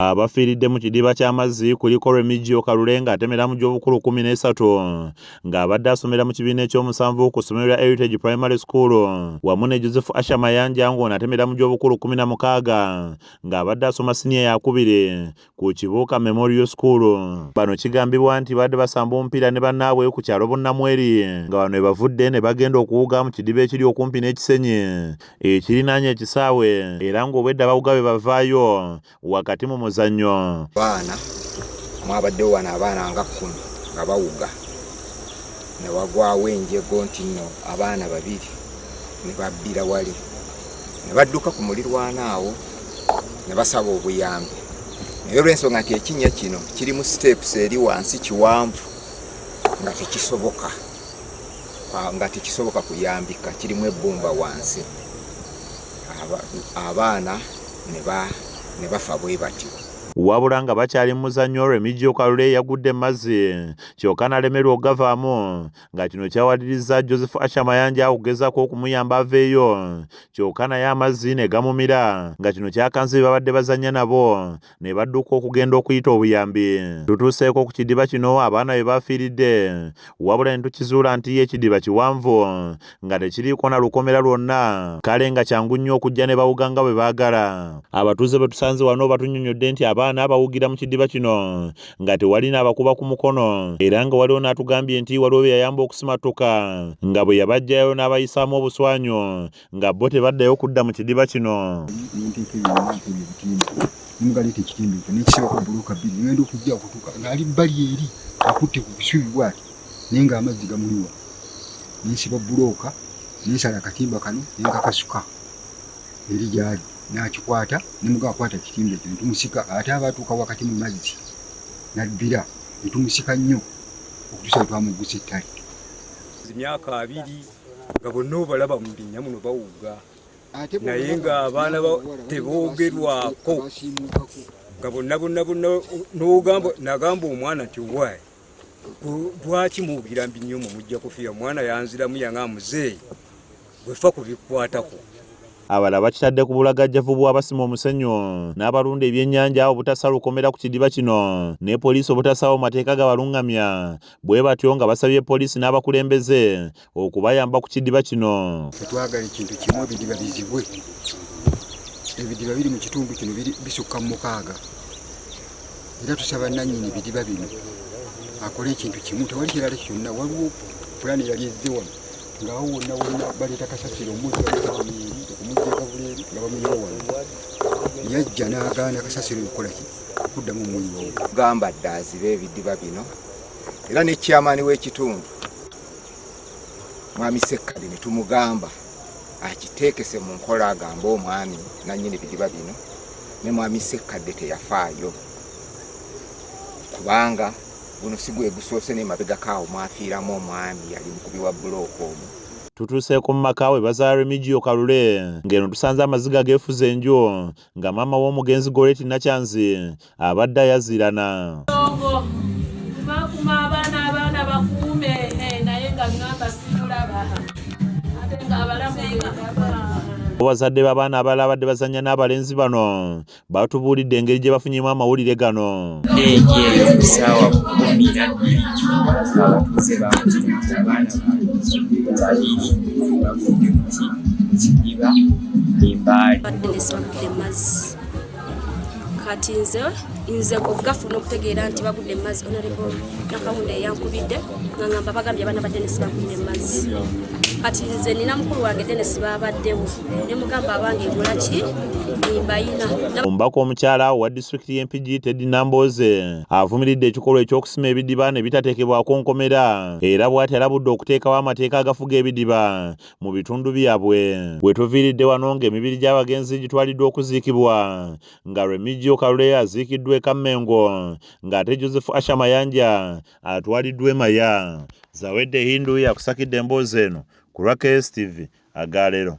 Abafiiridde mu kidiba ky'amazzi kuliko Remigio Kalule ng'atemera mu gy'obukulu kkumi n'esatu ng'abadde asomera mu kibiina ekyomusanvu ku ssomero lya Heritage Primary School wamu ne Joseph Asha Mayanja ng'ono atemera mu gy'obukulu kkumi na mukaaga ng'abadde asoma siniya yakubiri ku Kibuuka Memorial School. Bano kigambibwa nti baadde basamba omupiira ne bannaabwe ku kyalo Bunnamweri nga bano bavudde ne bagenda okuwuga mu kidiba ekiri okumpi n'ekisenyi ekirinaanye ekisaawe era ng'obwedda bawuga be bavaayo wakati mu muzannyo baana mwabaddewo wano abaana nga kkumi nga bawuga ne wagwawo enjego nti nno abaana babiri ne babbira wali ne badduka ku mulirwana awo ne basaba obuyambi naye olw'ensonga nti ekinnya kino kirimu siteepusi eri wansi kiwanvu nga tekisoboka ah, nga tekisoboka kuyambika kirimu ebbumba wansi abaana ne bafa bwe batyo wabula nga bakyali mu muzannyo Remigio Kalule eyagudde mu mazzi kyokka nalemerwa okugavaamu nga kino kyawalirizza Joseph Asha Mayanja okugezaako okumuyamba aveeyo kyokka naye amazzi ne gamumira nga kino kyakanze bye babadde bazannya nabo ne badduka okugenda okuyita obuyambi tutuuseeko ku kidiba kino abaana be bafiiridde wabula ne tukizuula nti ye ekidiba kiwanvu nga tekiriiko na lukomera lwonna kale nga kyangu nnyo okujja ne bawuga nga bwe baagala abatuuze bwe tusanze wano batunyonyodde nti abaana bawugira mu kidiba kino nga tewali n'abakuba ku mukono era nga waliwo n'atugambye nti waliwo bye yayamba okusimattuka nga bwe yabajjayo n'abayisaamu obuswanyu nga bo tebaddayo kudda mu kidiba kino nemugaleeta ekitimba ekyo nekisibako buloka bbiri ngenda okujja okutuuka ngaali bbali eri akutte ku busubi bwati naye nga amazzi gamuliwa nensiba bulooka nensala akatimba kano nenkakasuka eri gyali nakikwata nemuga akwata kitimba ekyo netumusika ate aba atuuka wakati mu mazzi nabbira netumusika nnyo okutusa wetwamuggusa ettale myaka abiri nga bonna obalaba mu binnya muno bawuga naye ng'abaana teboogerwako nga bonna bonna bonna n'ogamba nagamba omwana nti owaayi lwaki muwugira mbi nnyo mu mujja kufiira omwana yanziramu yanga muzeeyi gwefa ku bikwatako abalala bakitadde ku bulagajjavu bw'abasima omusenyu n'abalunda ebyennyanja obutasalukomera ku kidiba kino ne poliisi obutasaawo mateeka gabalungamya bwe batyo nga basabye poliisi n'abakulembeze okubayamba ku kidiba kino tetwagala ekintu kimu ebidiba bizibwe ebidiba biri mu kitundu kino bisukka mu mukaaga era tusaba nannyini bidiba bino akole ekintu kimu tewali kirala kyonna waliwo pulaani eyali ezze wano ngaawo wonna wonna baleeta kasasiro omuzaamueri okumujjakabuleeri nga bamuyiwa wano yajja n'agaana kasasiro okukola ki okuddamu omuyoogo gamba dda aziba ebidiba bino era ne chairman w'ekitundu mwami Sekkadi ne tumugamba akiteekese mu nkola agambe omwami nannyini bidiba bino ne mwami Sekkadde teyafaayo kubanga guno si gwe gusoose n'emabegako awo mwafiiramu omwami yali mukubi wa bulooka omu tutuuseeko mu maka we bazaala remigio kalule ng'eno tusanze amaziga geefuze enju nga maama w'omugenzi goleti nakyanzi abadde ayazirana abazadde b'abaana abalala abadde bazannya n'abalenzi bano batubuulidde engeri gye bafunyemu amawulire gano kati nze nze obugafu n'okutegeera nti bagudde emmazi onarebo nakawunda eyankubidde nga ngamba bagambye abaana ba denisi bagudde emmazi kati nze nina mukulu wange denisi baabaddewo ne mugamba abange egulaki omubaka omukyala wa disitulikiti y'empigi teddy namboze avumiridde ekikolwa eky'okusima ebidiba ne bitateekebwako nkomera era bw'ati alabudde okuteekawo amateeka agafuga ebidiba mu bitundu byabwe wetuviiridde wano ng'emibiri gy'abagenzi gitwaliddwa okuziikibwa nga remigio kalule aziikiddwa ekammengo ng'ate joseph asha mayanja atwaliddwa emaya zawedde hindu yakusakidde emboozi eno ku lwa kstv agaalero